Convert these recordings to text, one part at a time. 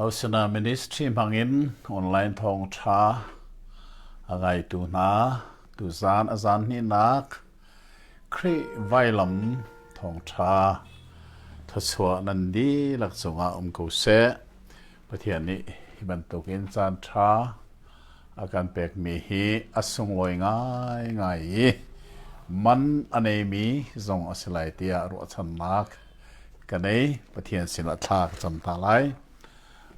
Hosana Ministry hmangin online thawngṭha a ngaitu hna tuzaan a zaan hnihnak Khrih Vailam Thawngṭha thluachuah nan dihlak cungah um ko seh. Pathian nih hi bantukin caanṭha a kan pekmi hi a sunglawi ngaingai i man a neimi zong a si lai tiah ruahchannak ka nei Pathian sinah thla ka cam hna lai.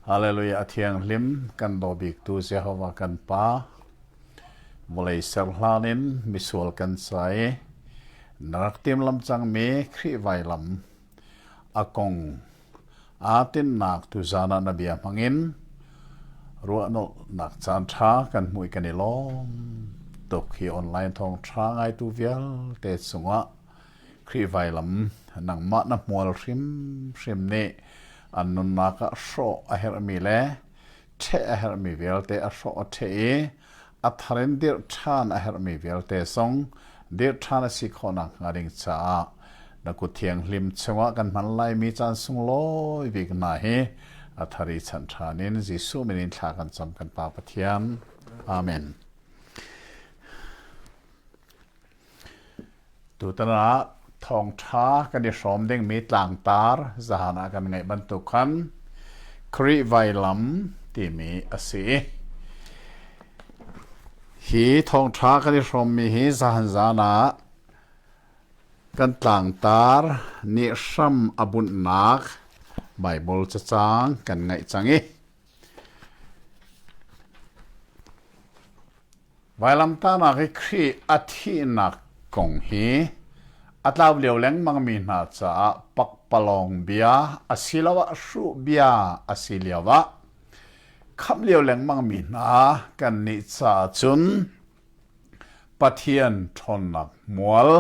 Hallelujah a thianghlim kan daw biktu Jehovah kan Pa vawlei ser hlan in misual kan sai na rak tim lam cangmi Khrih vailam a kong aa tinhnak tuzaan ah na bia hmangin ruahnolhnak caanṭha kan hmuh i kan i lawm tuk hi online thawngṭha ngaitu vialte cungah Khrih vailam nangmah na hmual hrimhrim nih an nunnak ah hrawh a herhmi le ṭheh a herhmi vialte a hrawh a ṭheh i a thar in dirh ṭhan a herhmi vialte zong dirh ṭhan a si khawhnak hnga ding caah na kuthianghlim chungah kan hman laimi caan sunglawi bik hna hi a thar i chan ṭhan in Jesuh min in thla kan cam kan Pa Pathian. Amen. Tutan ah thawngṭha kan i hrawm dingmi tlangtar zahan ah kan ngeih bantuk khan Khrih vailam timi a si. Hi thawngṭha kan i hrawmmi hi zahan zan ah kan tlangtar nih hram a bunhnak Baibal cacang kan ngaih cang i Vailamtahnak i Khrih a thihnak kong hi a tlau lio lengmangmi hna caah pakpalawng bia asiloah hruh bia a si lio ah khamh lio lengmangmi hna kan nih caah cun Pathian ṭhawnnak hmual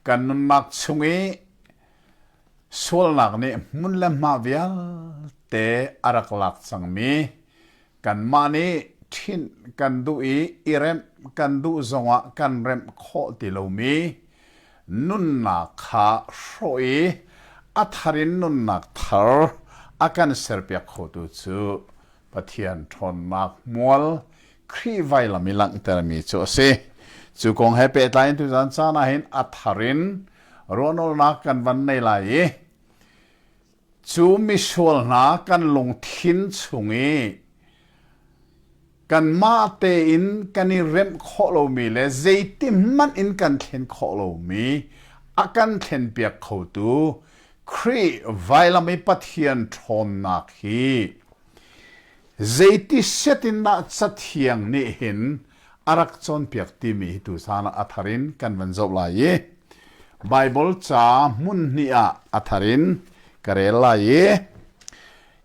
Kan nunnak chung i sualnak nih hmun le hma vialte a rak lak cangmi kanmah nih ṭhinh kan duh i i remh kan duh zongah kan remh khawh ti lomi nunnak kha hrawh i a thar in nunnak thar a kan serpiak khotu cu Pathian ṭhawnnak hmual Khrih vailam i langhtermi cu a si. Cu kong he pehtlai in tuzan caan ah hin a thar in ruahnolnak kan van nei lai i cu misual hna kan lungthin chung i kanmah tein kan i remh khawh lomi le zeitin hmanh in kan thlen khawh lomi a kan thlen piak khotu Khrih vailam i Pathian ṭhawnnak hi Zeiti setindah Cathiang nih hin a rak cawnpiak timi hi tuchan ah a thar in kan van zoh lai i Baibal ca hmun hnih ah a thar in ka rel lai i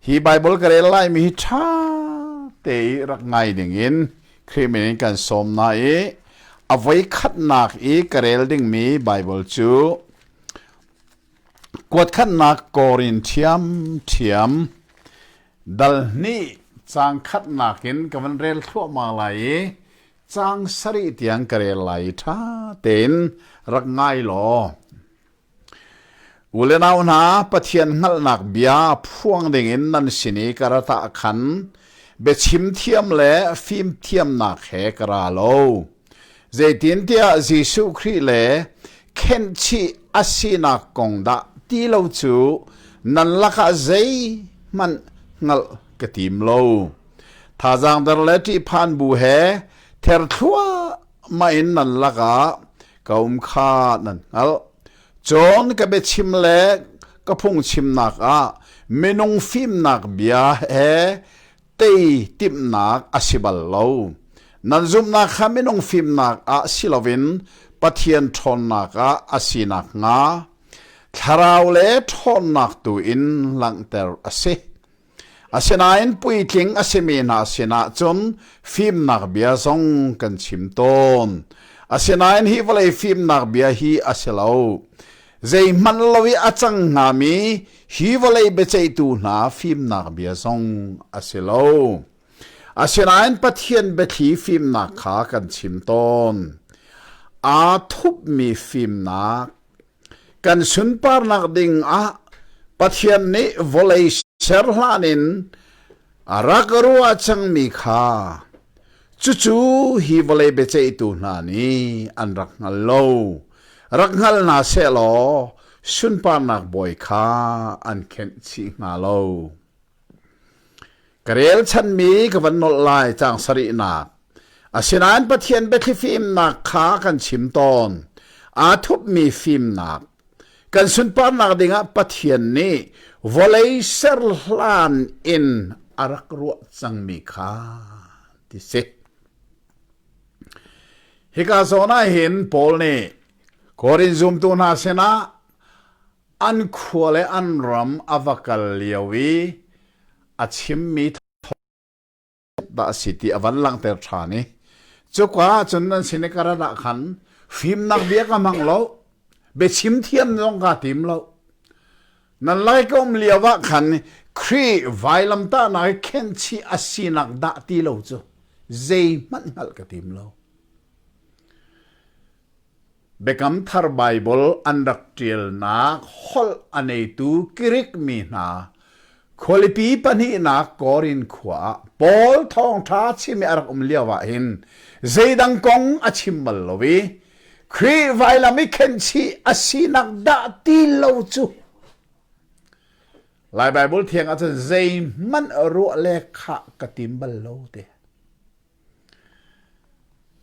hi Baibal ka rel laimi hi ṭha te i rak ngai dingin Khrih min in kan sawm hna i a voi khatnak i ka rel dingmi Baibal cu Kuatkhatnak kawr in ṭhiamṭhiam dal hnih caang khatnak in ka van rel thluahmah lai i caang sarih tiang ka rel lai i ṭha tein rak ngai law. U le nau hna, Pathian hngalhnak bia phuang dingin nan sin i ka ratah khan biachim thiam le fimthiamnak he ka ra lo. Zeitintiah Jesuh Khrih le khenhchih a sinak kong dah ti lo cu nan lakah zeihmanh hngalh ka tim lo. Thazaang der le ṭihphan bu he ther thluahmah in nan lakah ka um kha nan hngalh. Cun ka biachim le ka phungchimnak ah minung fimnak bia he Tei timhnak a si bal lo. Nan zumhnak kha minung fimnak ah si loin Pathian ṭhawnnak ah a si nakhnga thlarau le ṭhawnnak tu in langhter a si. Asinain puitling a simi hna sinah cun fimnak bia zong kan chim tawn. Asinain hi vawlei fimnak bia hi a si lo. Zeihmanh lo i a cang hngami hi vawlei biaceihtu hna fimnak bia zong a si lo. Asinain Pathian biathli fimnak kha kan chim tawn. Aa thupmi fimnak kan sunparnak ding ah Pathian nih vawlei ser hlan in A rak ka ruah cangmi kha cucu hi vawlei biaceihtu hna nih an rak hngal lo. Rak hngal hna seh law sunparnak bawi kha an khenh chih hnga lo. Ka relchanmi ka van nolh lai cang sarihnak. Asinain Pathian biathli fimnak kha kan chim tawn. Aa thupmi fimnak kan sunparnak dingah Pathian nih vawlei ser hlan in a rak ruah cangmi kha ti si. Hika zawn ah hin Paul nih Korin zumtu hna sinah an khua le an ram a va kal lio i a chimmi dah a si ti a van langhter ṭhan i cuka ah cun nan sin i ka rat ah khan fimnak bia ka hmang lo biachim thiam zong kaa tim lo nan lai ka um lio ah khan Khrih vailamtahnak i khenhchih a sinak dah ti lo cu zei hmanh hngalh ka tim lo Biakam Thar Baibal an rak ṭialnak holh a neitu Grik mi hna khualipi pahnihnak Korin khua ah Paul thawngṭha chim i a rak um lioah hin zeidang kong a chim bal lo i Khrih vailam i khenhchih a sinak dah ti lo cu. Lai Baibal thiang ah cun zeihmanh ruah le khah ka tim bal lo te.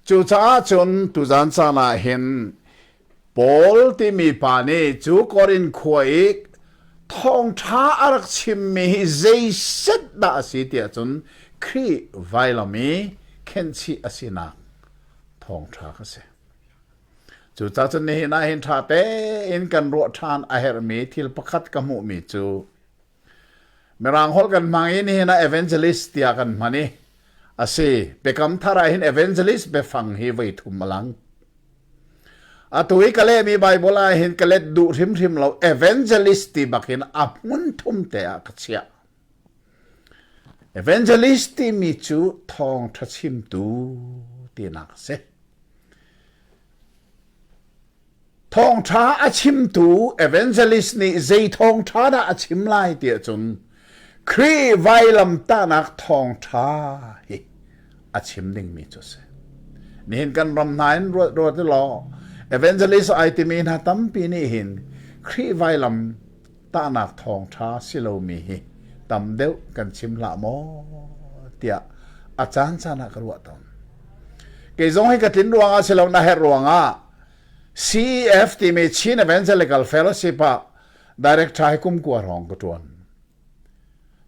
Cucaah cun tuzan caan ah hin Paul timi pa nih cu Korin khua i thawngṭha a rak chimmi hi zeiset dah a si tiah cun Khrih vailam i khenhchih a sinak thawngṭha kha a si. Cucaah cun nihin ah hin ṭha tein kan ruah ṭhan a herhmi thil pakhat ka hmuhmi cu Mirang holh kan hmang i nihin ah evangelist tiah kan hman i a si Biakam Thar ah hin evangelist biafang hi voi thum a lang. Atu i ka lehmi Bible ah hin ka let duh hrimhrim lo evangelist ti bakin a hmun thum te ah ka chiah. Evangelist timi cu thawng tha chimtu tinak a si. Thawngṭha a chimtu evangelist nih zei thawngṭha dah a chim lai ti ahcun Khrih vailamtahnak thawngṭha hi a chim dingmi cu a si. Nihin kan ram hna in ruat ruat u law evangelist ai timi hna tampi nih hin Khrih vailam tahnak thawngṭha si lomi hi tam deuh kan chim hlah maw tiah a caancaan ah ka ruah tawn. Kei zong hi ka tlin ruangah si lo na herh ruangah CEF timi Chin Evangelical Fellowship ah director hi kumkua rong ka ṭuan.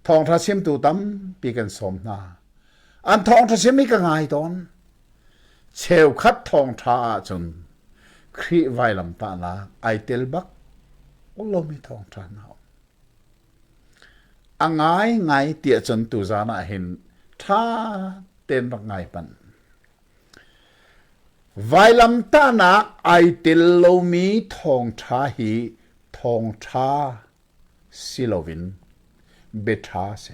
Thawngṭha chimtu tampi kan sawm hna. An thawngṭha chim hi ka ngai tawn. Cheukhat thawngṭha ahcun Khrih vailamtahnak ai tel bak lomi thawngṭha hna a um. A ngaingai tiah cun tuzan ah hin ṭha tein rak ngai panh. Vailamtahnak ai tel lomi thawngṭha hi thawngṭha si loin biaṭha a si.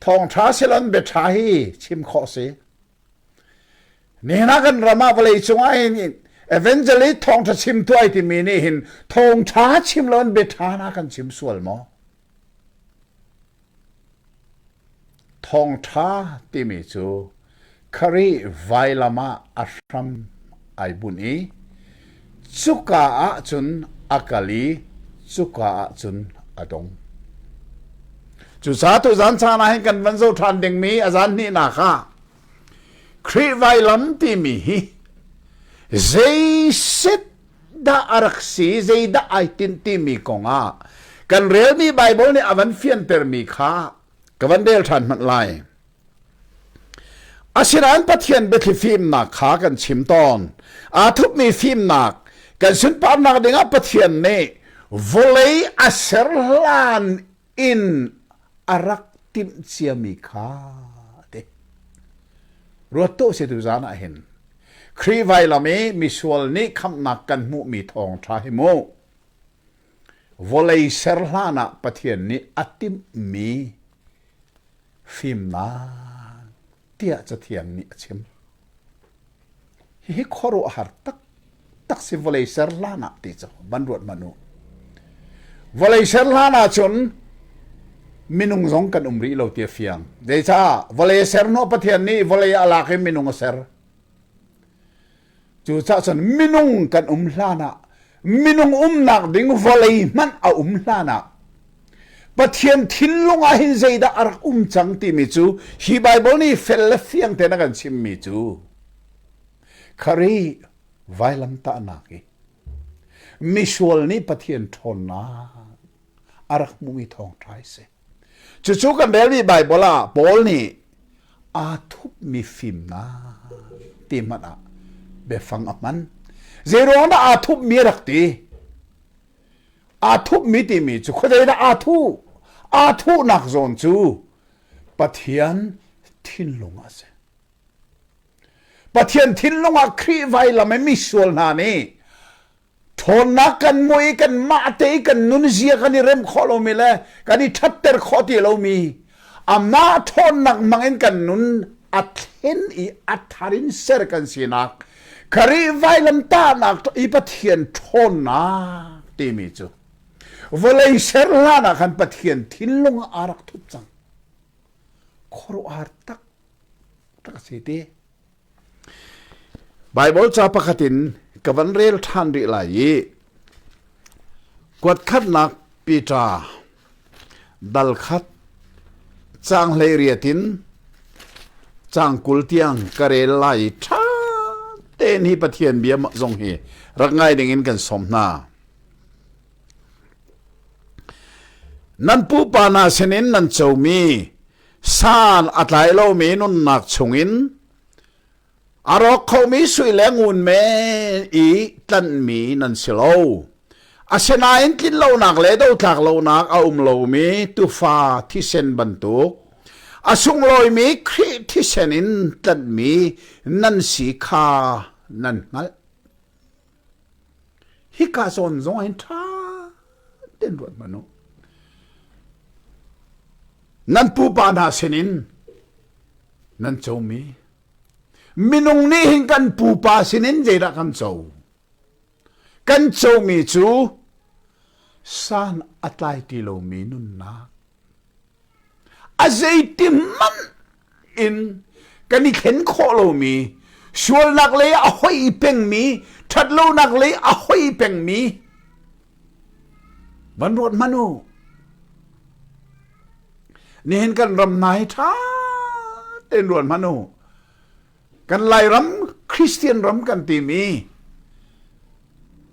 Thawngṭha si loin biaṭha hi chim khawh a si. Nihin ah kan ram ah vawleicung ah hin evangelist thawngṭha chim tuai timi nih hin thawngṭha chim loin biaṭha na kan chim sual maw? Thawngṭha timi cu kharih vailam ah a hram ai bunh i cuka ah cun a kal i cuka ah cun a dong. Cucaah tuzan caan ah hin kan van zoh ṭhan dingmi a zan hnihnak ah Khrih vailam timi hi zei set dah a rak si zeidah ai tin timi kongah kan relmi Baibal nih a van fiantermi kha ka van rel ṭhan hmanh lai asinain Pathian biathli fimnak kha kan chim tawn aa thupmi fimnak kan sunparnak dingah Pathian nih vawlei a ser hlan inn a rak timh ciami kha ati ruat tuah setu zan ah hin Khrih vailam i misual nih khamhnak kan hmuhmi thawng ṭha hi mu vawlei ser hlan ah Pathian nih a timhmi fimnak tiah Cathiang nih a chim Hihi khuaruahhar taktak si vawlei ser hlan ah ti cu van ruat man u. Vawlei ser hlan ah cun minung zong kan um rih lo ti a fiang. Zeicah vawlei ser no Pathian nih vawlei ah lak i minung a ser. Cucah cun minung kan um hlan ah Minung umnak ding vawlei hmanh a um hlan ah Pathian thinlung ah hin zeidah a rak um cang timi cu hi Baibal nih fel le fiang tein a kan chimmi cu khari vailamtahnak i misual nih Pathian ṭhawnnak a rak hmuhmi thawngṭha hi si. Cucu kan rel rih Baibal ah Paul nih aa thupmi fimnak ti hmanh ah biafang a hman. Zeiruang dah aa thupmi a rak ti? Aa thupmi timi cu khuazei dah aa thu? Aa thuhnak zawn cu Pathian thinlung a si. Pathian thinlung ah Khrih vailam i misual hna nih Ṭhawnnak kan mui i kanmah te i kan nunzia kan i rem khawh lomi le kan i ṭhatter khawh ti lomi amah ṭhawnnak hmangin kan nun a thlen i a thar in ser kan sinak Kharih vailamtahnak i Pathian ṭhawnnak timi cu vawlei ser hlan ah khan Pathian thinlung ah aa rak thup cang khuaruahhar tak tak a si ti Baibal ca pakhat in ka van rel ṭhan rih lai i kuatkhatnak Peter dal khat caang hleiriat in caang kul tiang ka rel lai i ṭha tein hi Pathian bia zong hi rak ngai dingin kan sawm hna. Nan pupa hna sinin nan comi San a tlai lomi nunnak chungin a rawk khomi sui le ngun men i tlanhmi nan si lo. Asinain tlin lonak le dotlak lonak a um lomi tufa thisen bantuk a sunglawimi Khrih thisen in tlanhmi nan si kha nan hngalh. Hika zawn zong hin ṭha tein ruat hmanh u. Nan pupa hna sinin nan comi minung nih hin kan pupa sinin zeidah kan co? Kan comi cu san a tlai ti lomi nunnak. A zeitin hmanh in kan i thlen khawh lomi sualnak lei a hoi pengmi ṭhatlonak lei a hoi pengmi van ruat hman u nihin kan ram hna hi ṭha tein ruat hman u kan lairam christian ram kan timi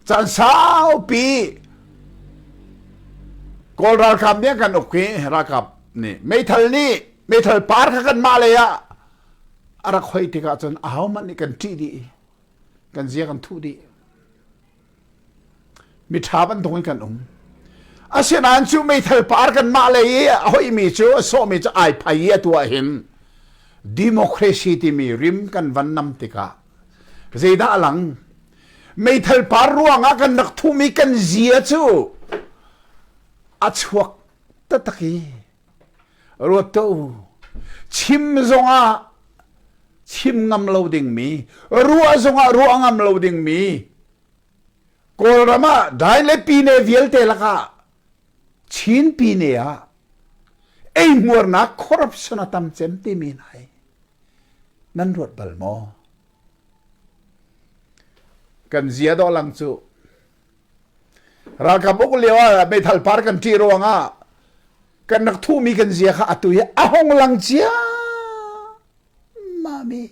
caan saupi kawl ralkap nih kan uk hi ralkap nih meithal nih meithal par kha kan mah lei ah a rak hoi tikah cun a ho hmanh nih kan ṭih dih kan zia kan thuh dih Miṭha bantuk in kan um. Asinain cu meithal par kanmah lei i a hoihmi cu a sawhmi cu ai phai i atu ah hin democracy timi rim kan van nam tikah zeidah a lang meithal par ruangah kan rak thum i kan zia cu a chuak taktak i Ruat tuh. Chim zongah chim ngam lo dingmi, ruah zongah ruah ngam lo dingmi, Kawlram ah dai le pine vialte lakah Chin pine ah eihmuarnak corruption a tam cem timi nai nan ruat bal maw? Kan zia dawh lang cu ralkap uk lio ah meithal par kan ṭih ruang ah kan rak thuhmi kan zia kha atu hi a hong lang cia mami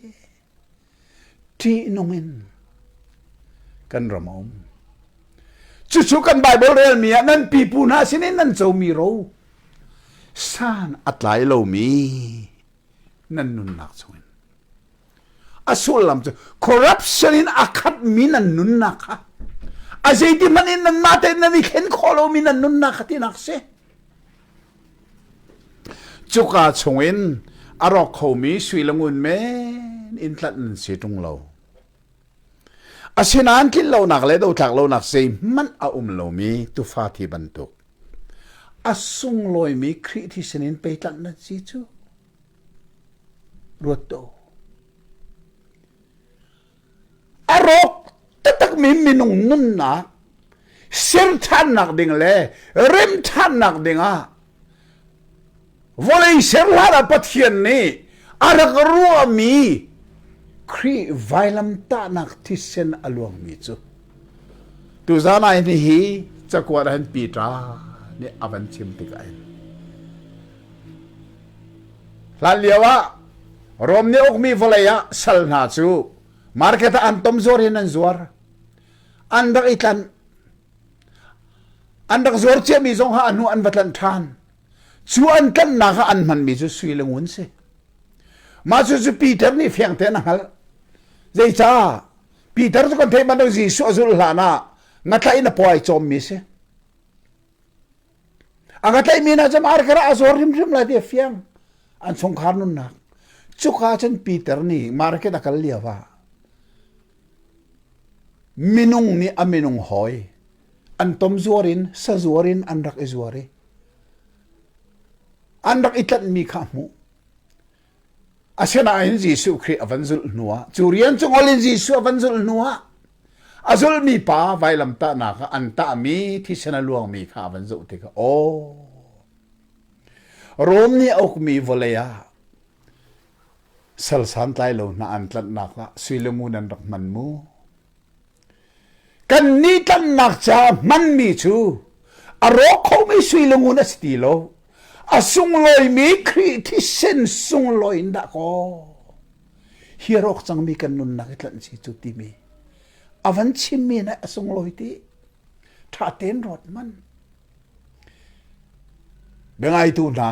ṭihnung in kan ram a um cucu kan bible relmi ah nan pipu hna sin in nan comi ro san a tlai lomi nan nunnak chungin a sullam cu corruption in a khatmi nan nunnak kha a zeiti hmanh in nanmah tein nan i khen khawh lomi nan nunnak kha tinak si cuka chungin a rawk khomi sui le ngun men in tlat nan si ṭung lo Asinain tlinlonak le dotlak lonak zeihmanh a um lomi tufa thi bantuk a sunglawimi Khrih thi sinin peitlanh na si cu ruat tuah a rawk taktakmi minung nunnak ser ṭhannak ding le rem ṭhannak dingah vawlei ser hlan ah Pathian nih a rak ruahmi Khrih vailamtahnak thisen a luangmi cu tuzan ai ni hi cakuat han Peter nih a van chim tikah hin hlan lio ah Rom nih ukmi vawlei ah sal hna cu market ah an tom zuar hin an zuar an rak i tlanh an rak zuar ciami zong ha anu an va tlanh ṭhan Cu an tlanhnak ah an hmanmi cu sui le ngun si. Mah cu Peter nih fiang tein a hngalh. Zeicah? Peter cu kan theih bantuk Jesuh a zulh hlan ah ngatlaih in a puai cawmmi a si. A ngatlaihmi hna cu marker ah a zuar hrimhrim lai ti a fiang. An chungkhar nunnak. Cuka cun Peter nih market a kal lio ah minung nih a minung hawi an tom zuar in sazuar in an rak i zuar i an rak i tlanhmi kha a hmuh asinain Jesuh Khrih a van zulh hnuah cu rian cu ngol in Jesuh a van zulh hnuah a zulmi pa vailamtahnak ah an tahmi thisen a luangmi kha a van zoh tikah aw Rom nih a ukmi vawlei ah sal santlai lo hna an tlanhnak ah suilamu nan rak hman mu Kannih tlanhnak caah hmanmi cu a rawk khomi sui lungun a si ti lo. A sunglawimi Khrih thisen sunglawi in dah kaw hi a rawk cangmi kan nunnak i tlanh si cu timi a van chimmi nih a sunglawi ti ṭha tein rawt man biangaitu hna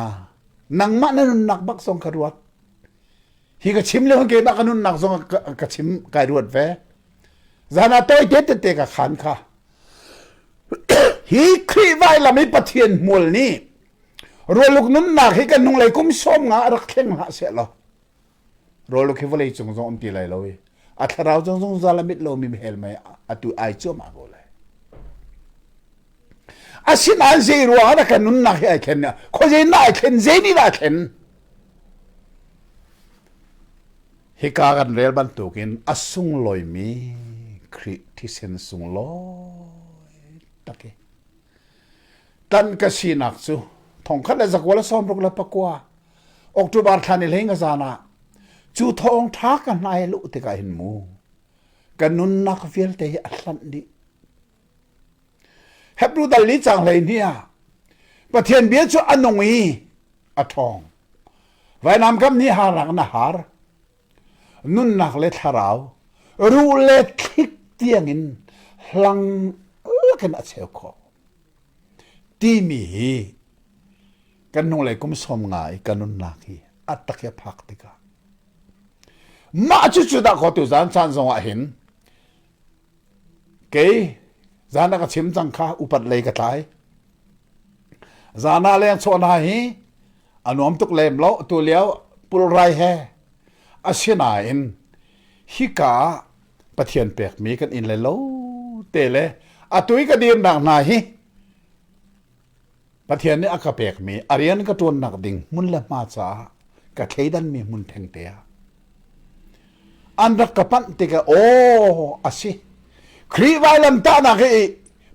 nangmah na nunnak bak zong ka ruat hi ka chim le hun ke ka nunnak zong ka chim kai ruat ve zan a toi te te ka khan kha hi khrih vai lam i pathian hmual ni roluk nunnak hi kan hnunglei kum som nga rak thleng ha se lo roluk hi vawlei cung zong um ti lai lo i a thlarau zong zong zalamit lo mi hel mai atu ai chuama go lai asin an zei ruang ah kan nunnak hi ai thlen kho je na ai thlen je ni na thlen Hika kan rel bantukin a sunglawimi Khrih thisen sunglawi tak i tan ka sinak cu thongkhat le zakual le sawm ruk le pakua October thlan i hleng zan ah cu thawng tha ka hnai lu tikah hin mu ka nunnak vialte hi a hlanh dih Hebrew dal ni cang hlei ni ah Pathian bia cu a nung i a ṭhawng. Vainam kam ni harang na har. Nunnak le thlarau, ruh le thlik tiangin hlang lakin a cheu khawh. Timi hi kan hnulei kum sawm nga i kan nunnak hi a tak i a phak tikah mah cu cu dah kho tu zan chan zongah hin Kei zan ah ka chim cang kha upat lei ka tlai. Zan ah leng chaw hna hi a nuam tuk lem lo tu lio pulrai he asinain hika pathian pek mi kan in le lo te le atui ka dir nak hna hi Pathian nih a ka pekmi a rian ka ṭuannak ding hmun le hma caah ka thleidanmi hmun thengte ah an rak ka panh tikah aw a si Khrih vailamtahnak hi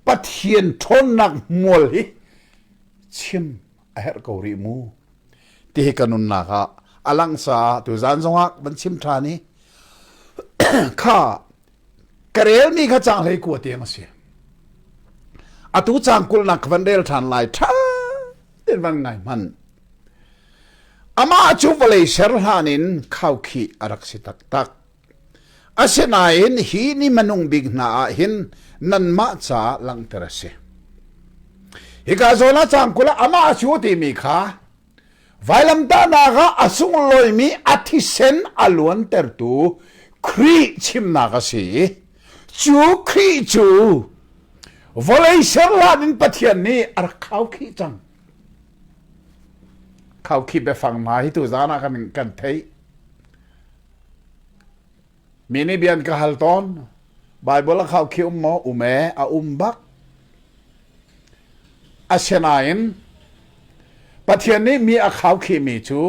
Pathian ṭhawnnak hmual hi chim a herh ko rih mu tihi ka nunnak ah a lang caah tu zan zongah van chim ṭhan i kha ka rel mi kha cang hlei kua tiang a si atu cang kul nak van rel than lai tha ten van ngai man ama chu vawlei ser hlan in khau khi arak si tak tak asinain hi ni manung bik hna ah hin nan ma cha langter a si hika zola chang kula ama chu ti mi kha Vailamtahnak ah a sunglawimi a thisen a luantertu Khrih chimnak a si i cu Khrih cu vawlei serhlan in Pathian nih a rak khau khi cang. Khau khi biafang ma hi tu zan ah kan, kan theih. Mi nih bia an ka hal tawn. Baibal a khaukhih um maw? Um ee, a um bak. Asinain Pathian nih mi a khaukhihmi cu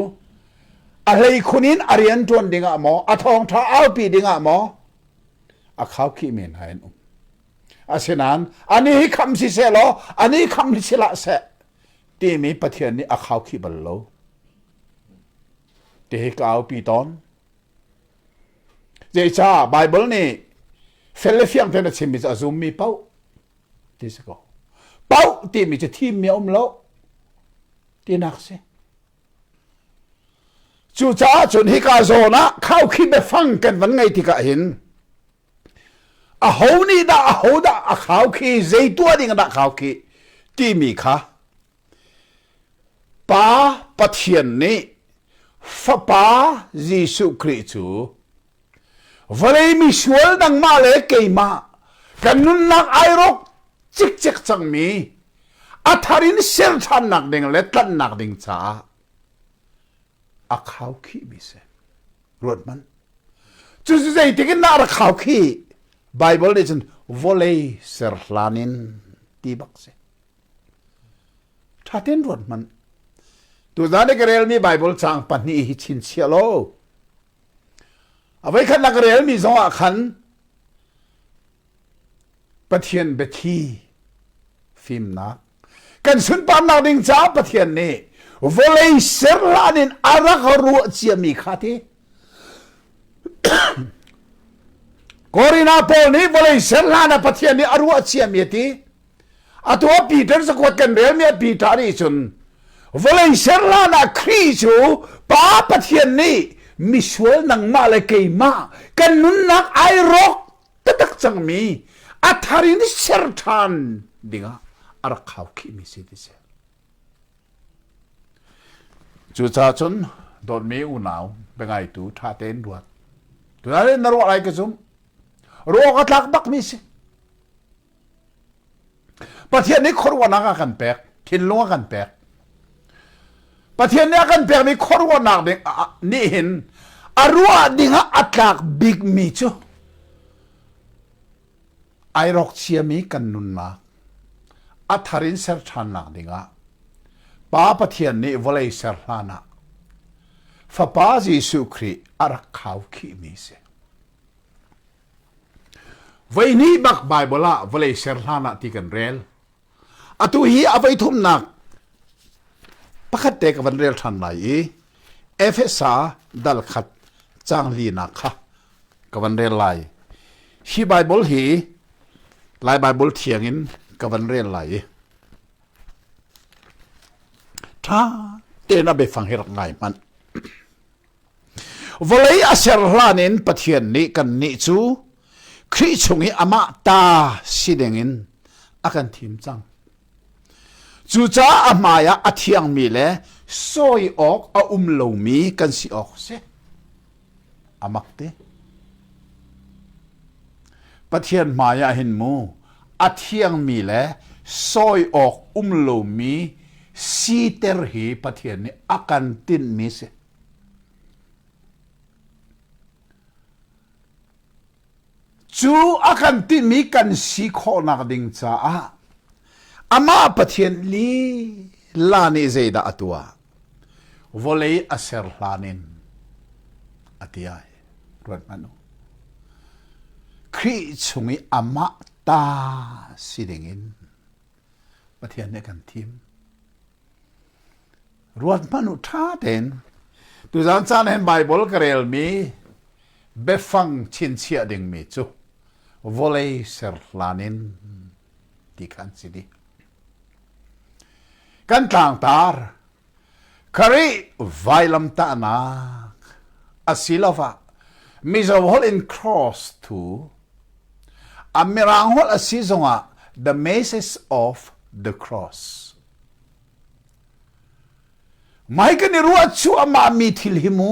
a hleikhun in a rian ṭuan dingah maw, a thawngṭha aupi dingah maw a khaukhih men ha in um. Asinain ani hi kham si se law, ani kham si la se timi Pathian nih a khaukhih bal lo. Ti hi ka aupi tawn. Zeicah Baibal nih fel le fiang tein a chimmi cu a zummi pauh ti si ko. Pauh timi cu thimmi a um lo tinak si. Cucaah cun hika zawn ah khaukhih biafang kan van ngei tikah hin aho nih dah aho dah a khau khi zei tuah ding dah khau khi timi kha Pa Pathian nih Fapa Jesuh Khrih cu vawlei misual nangmah le keimah kan nunnak ai rawk cikcek cangmi a thar in ser ṭhannak ding le tlanhnak ding caah a khau khihmi si. Ruathmanh. Cucu zeitin na rak khau khi Bible nih cun vawlei ser hlan in ti bak si. Thaten ruat hmanh. Tuzan na ka relmi Bible caang pahnih hi chin chia lo. Avei khat na ka relmi zongah khan Pathian biathi fimnak kan sunparnak ding caah Pathian nih vawlei serhlan in a rak ruah ciami kha ti Korina Paul nih vawlei serhlan ah Pathian nih a ruah ciami ti atu a Peter sakuat kan bel mi a Peter nih cun vawlei serlan ah Khrih cu pa Pathian nih misual nangmah le keimah kan nunnak ai rawk taktak cang mi a thar in ser ṭhan dingah a rak hau khihmi si ti si cucaah cun dawtmi unau biangaitu ṭha tein ruat tunai na ruah lai ka zum ruak a tlak bakmi si Pathian nih khuaruahnak a kan pek thinlung a kan pek Pathian nih a kan pekmi khuaruahnak ding nih hin a ruah ding ah a tlak bikmi cu ai rawk chiami kan nunnak a thar in ser ṭhannak dingah Pa Pathian nih vawlei ser hlan ah Fapa Jesuh Khrih a rak khau khihmi si. Voihnih bak Bible ah vawlei ser hlan ah ti kan rel. Atu hi a voi thumnak pakhat te ka van rel than lai i Efesa dal khat chang linak kha ka van rel lai. Hi Bible hi Lai Bible thiang in ka van rel lai i tha tein a be fang hirak ngai hman. vawlei a ser hlan in Pathian nih kannih cu Khrih chung i amah ta si dingin a kan thim cang. Cucaah a hmaiah a thiangmi le sawi awk a um lomi kan si awk si. A mak te. Pathian hmaiah hin mu a thiangmi le sawi awk um lomi siter hi Pathian nih a kan tinhmi si. Cu a kan timi kan si khawhnak ding caah amah Pathian lila nih zeidah a tuah? Vawlei a ser hlan in a ti ai. Ruat hmanh u. Khrih chung i amah ta si dingin Pathian nih kan thim. ruat hmanh u ṭha tein tuzan caan hen Baibal ka relmi biafang chinchiah dingmi cu vawlei ser hlan in ti khan si di kan tlangtar khari vailam ta'nak asiloah mizo hol in cross thu a mirang hol a si zongah the message of the cross Mei kan i ruah cu amah mi thil hi mu.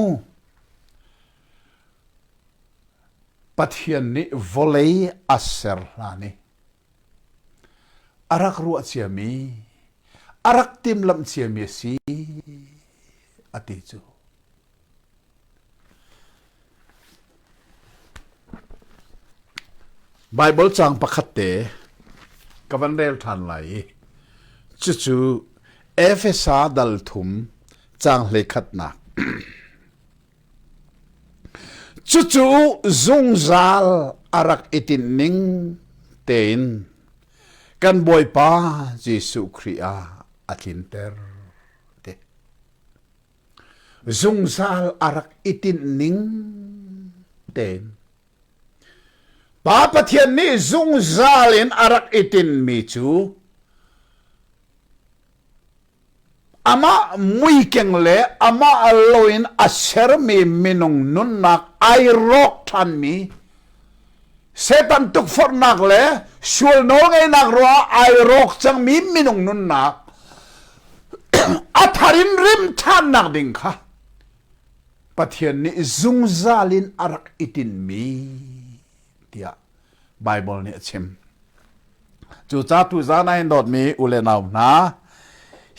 Pathian nih vawlei a ser hlan i a rak ruah ciami, a rak timlamh ciami a si, a ti cu. Baibal caang pakhatte ka van rel ṭhan lai i cucu Efesa dal thum caang hlekhatnak. Cucu zungzal a rak i tinh ning tein kan Bawipa Jesuh Khrih ah a tlinter. zungzal a rak i tinh ning tein Pa Pathian nih zungzal in a rak i tinmi cu amah muikeng le amah lo in a sermi minung nunnak ai rawk ṭhanmi Satan tukforhnak le sual nawlngeihnak ruangah ai rawk cangmi minung nunnak a thar in rim ṭhannak ding kha Pathian nih zungzal in a rak i tinmi tiah Baibal nih a chim. Cucatu zan ah hin dawtmi u le nau hna,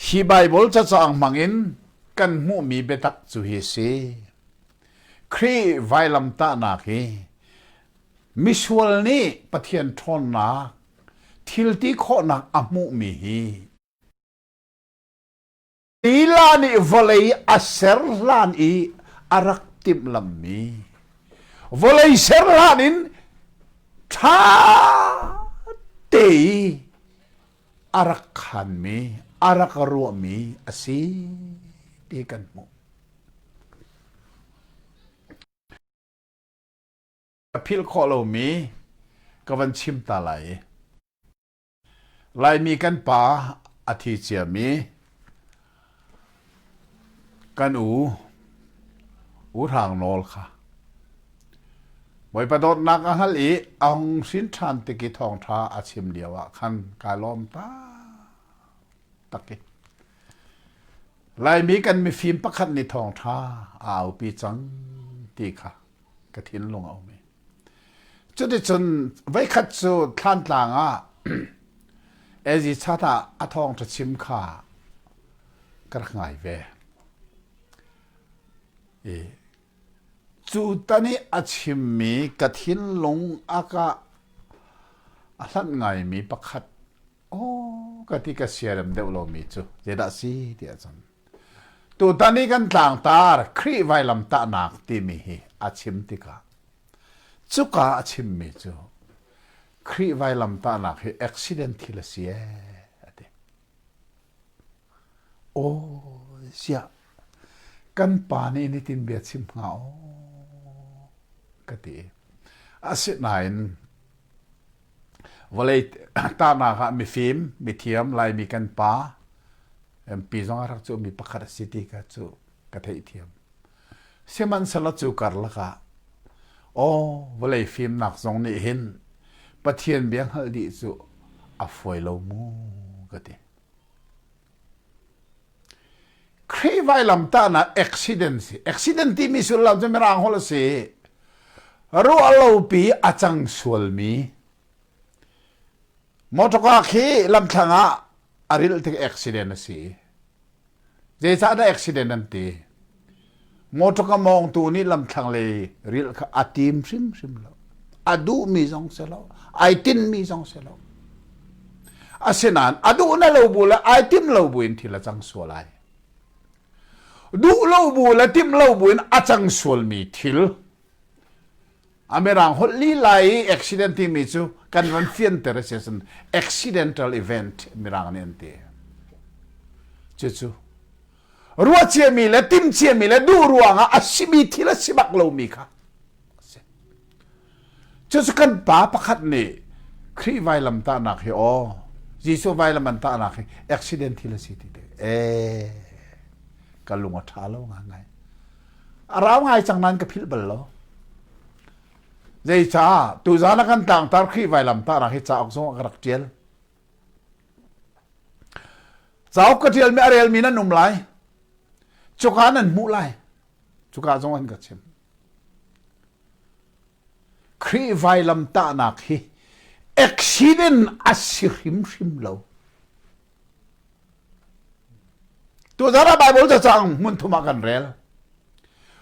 hi Baibal cacaang hmangin kan hmuhmi biatak cu hi si. Khrih vailamtahnak hi misual nih Pathian ṭhawnnak thilti khawhnak a hmuhmi hi lila nih vawlei a ser hlan i a rak timhlamhmi vawlei ser hlan in ṭha te i a rak khanmi, a rak ruahmi a si ti kan hmuh. Ka philh khawh lomi ka van chim ta lai. Laimi kan pa a thi ciami Kan u, U Hrang nawl kha Bawipa dawtnak a hngalh i a hung hrin ṭhan tik i thawngṭha a chim lio ah khan kaa lawm taktak i Laimi kan mifim pakhat nih thawngṭha a aupi cang ti kha ka thinlung a um i Cuticun voikhat cu thlantlang ah Ezi chan ah a thawng cachim kha ka rak ngai ve. I cu tan i a chimmi ka thinlung aka a hlanh ngaimi pakhat aw ka ti ka siarem deuh lomi cu zeidah si ti ahcun Tutan i kan tlangtar Khrih vailamtahnak timi hi a chim tikah cuka a chimmi cu Khrih vailamtahnak hi accident thil a si ee a ti. Aw ziah kan pa nih nitin bia chim hnga aw ka ti. Asinain Vawlei tahnak ah mifim, mithiam, Laimi kan pa, MP zong a rak cu mi pakhat a si ti ka cu ka theihthiam. Sihmanhsehlaw cu karlak ah aw vawlei fimnak zong nih hin Pathian bia hngalh dih cu a fuai lo mu ka ti. Khrih vailamtahnak accident si. Accident timi sullam cu mirang holh a si. Ruahlopi a cang sualmi. Motorcar khi lamthlang ah a ril tik accident a si. Zeicahdah accident an ti? Motor ka mawngtu nih lamthlang le ril kha a tim hrimhrim lo. A duhmi zong si lo. Ai tinmi zong si lo. Asinain a duh na lo bu le ai tim lo bu in thil a cang sual ai. Duh lo bu le tim lo bu in a cang sualmi thil A mirang holh lila i accident timi cu kan ran fianter a si ahcun accidental event mirang nih an ti. Cucu ruahciami le timciami le duh ruangah a simi thil a si bak lomi kha a si. Cucu kan pa pakhat nih Khrih vailam tahnak hi aw Jesuh vailam an tahnak hi accident thil a si ti te. E, ka lung a ṭha lo ngai. a rau ngai cang nan ka philh bal lo zeicah tuzan a kan tar khi vailam ta ra hi cauk zong a ka rak tial cauk ka tial mi a rel mi nan um lai cuka nan hmuh lai cuka zong an ka chim Khrih vailam tahnak hi accident a si hrimhrim lo Tuzarh ah Baibal cacang hmunthum ah kan rel.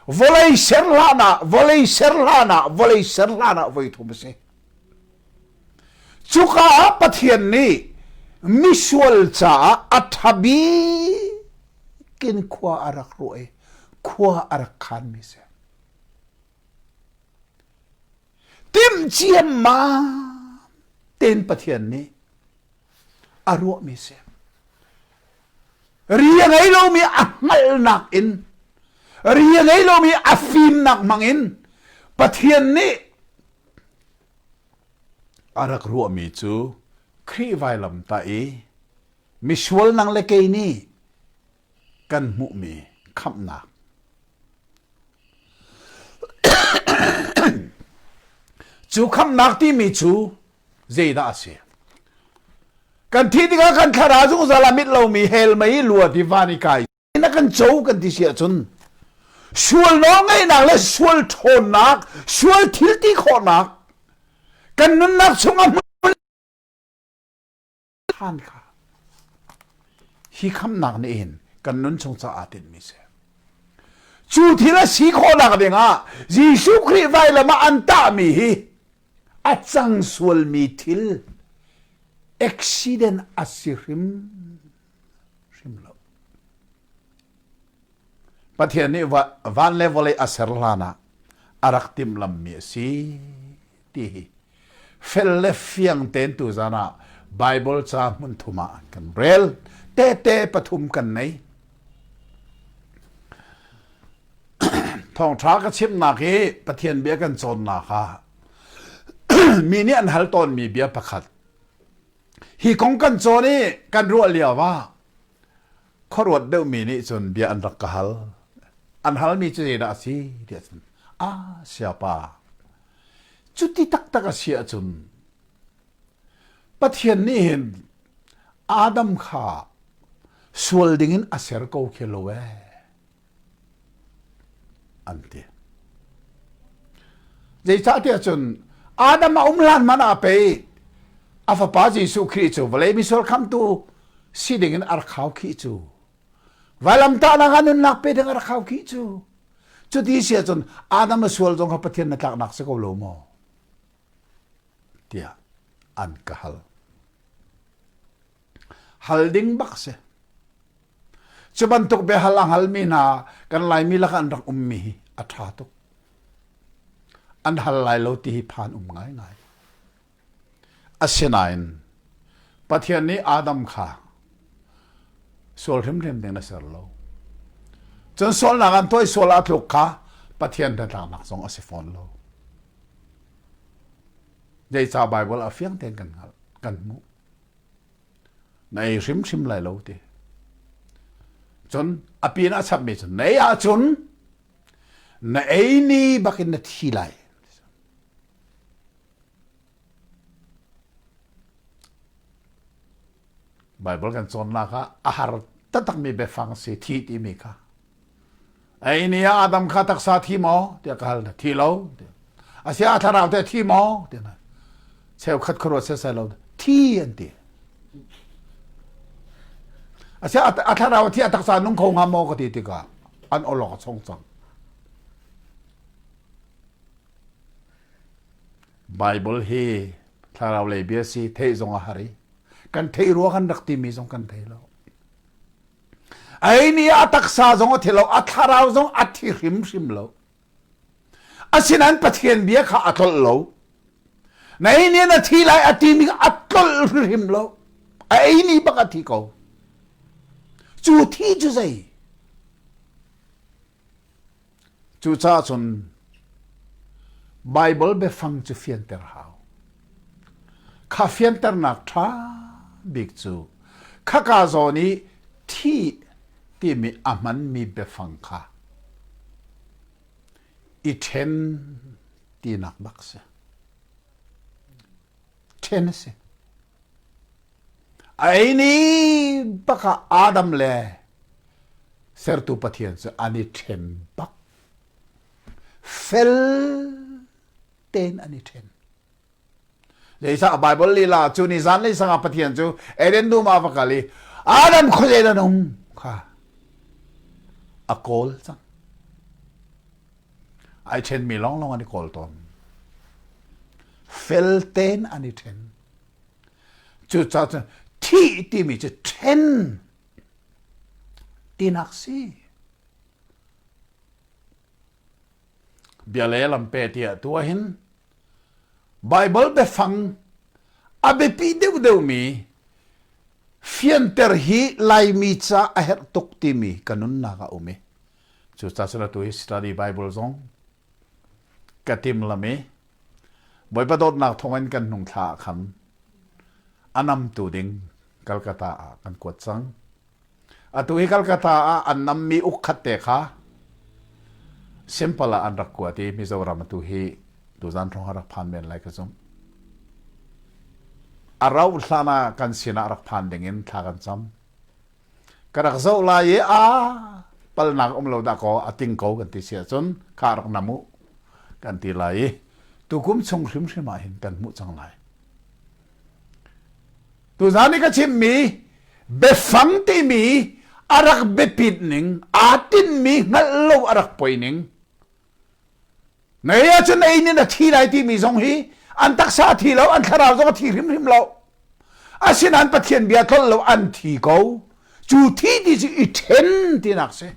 Vawlei ser hlan ah, vawlei ser hlan ah, vawlei ser hlan ah voi thum a si. Cuka ah Pathian nih misual caah a ṭhabik in khua a rak ruah i khua a rak khanmi si. Timh ciammam tein Pathian nih a ruahmi si. Ri a ngei lomi a hngalhnak in, ri a ngei lomi a fimnak hmangin Pathian nih a rak ruahmi cu Khrih vailam ta i misual nang le kei nih kan hmuhmi khamhnak. cu khamnak timi cu zeidah a si kan thi tikah kan thlarau zungzal ah mit lomi hell mei lua divan i kai na kan co kan ti si ahcun sual nawlngaihnak le sual ṭhawnnak sual thilti khawhnak kan nunnak chungah hi khamnak na in kan nun chung caah tinhmi si cu thil a si khawhnak dingah Jesuh Khrih vailam ah an tahmi hi a cang sualmi thil accident a si hrim hrim lo Pathian nih van le vawlei a ser hlan ah a rak timhlamhmi a si ti hi fel le fiang tein tu zan ah Bible ca hmun thum ah an kan rel. Tehte pathum kan nei. Thawngṭha ka chimnak hi Pathian bia kan cawnnak ah mi nih an hal tawnmi bia pakhat. Hi kong kan cawn i kan ruah lio ah khuaruat deuhmi nih cun bia an rak ka hal. An halmi cu zeidah a si ti ahcun, ah siapa, cuti taktak a si ahcun, Pathian nih hin Adam kha sual dingin a ser ko khi lo ee. an ti zeicah tiah cun adam a um hlan man ah pei a fapa jesuh khrih cu vawlei misor khamtu si dingin ar khau khi cu vailamtahnak ah nunnak pe ding ar khau khi cu cuti sia cun adam a sual zong kha pathian na tlaknak si ko lo maw tiah an ka hal hal ding bak si Cu bantuk biahal a halmi hna kan Laimi lakah an rak ummi hi a ṭha tuk. An hal lai lo ti hi phan um ngaingai. Asinain Pathian nih Adam kha sual hrimhrim ding na ser lo. Cun sualnak an toih sual ah tluk kha Pathian hnatlaknak zong a si fawn lo. Zeicah Baibal a fiang tein kan hngalh, kan hmuh. Nei hrimhrim lai lo ti. Cun a pin a chapmi cu nei ahcun na ei ni bakin na thi lai. Baibal kan cawnnak ah a har taktakmi biafang si thi timi kha Ei ni ah Adam kha taksa thi maw tiah ka hal na thi lo a sia a thlarau te thi maw tiah na cheukhat khuaruat sesai lo thi an ti a sia a thlarau thi a taksa nung kho nga maw ka ti tikah an olok a chong cang Bible hi thlarau lei bia si thei zong a har i kan thei rua kan rak timi zong kan thei lo Ei ni ah a taksa zong a thi lo, a thlarau zong a thi hrimhrim lo. Asinain Pathian bia kha a tlolh lo. Na ei ni na thi lai a ti mi a tlolh hrimhrim lo. A ei ni bak a thi ko. Cu thi cu zei? Cucaah cun Baibal biafang cu fianter hau. Kha fianternak ṭha bik cu khaka zawn i thi timi a hmanmi biafang kha i ṭhen tinak bak si. ṭhen a si. A ei ni bak ah Adam le Sertu Pathian cu an i ṭhen bak. Fel tein an i ṭhen. Leisah Bible lila cu ni zan le sangah Pathian cu Eden dum ah va kal i Adam khuazei an um kha a kawl cang. ai ṭhenmi lawnglawng an i kawl tawn. Fel tein an i ṭhen. Cucaah cun thih timi cu ṭhen tinak si. Bia le lampe tiah tu hin Bible biafang a biapi deuhdeuhmi fianter hi Laimi ca a herh tuk timi ka nunnak a um i cu ca sila tu hi study bible zong ka timlam i bawipa dawtnak thawngin kan hnung thla ah khan anamtu ding Kalkata ah kan kuat cang atu hi Kalkata ah an nam mi ukhat te kha simple ah an rak kuat i Mizoram tu hi tuzan thong rak phan men lai ka zum arau hlana kan sinah rak phan dingin thla kan cam ka rak zoh lai i a palnak um lo dah kaw a ting ko kan ti si ahcun ka rak nam u kan ti lai i tukum chung hrimhrim ah hin kan hmuh cang lai tuzan i ka chimmi biafang timi a rak biapit ning aa tinmi hngalh lo a rak poi ning Ngei ahcun ein in a thi lai timi zong hi an taksa a thi lo, an thlarau zong a thi hrimhrim lo. Asinain Pathian bia tlol lo an thi ko. Cu thi ti cu i ṭhen tinak si.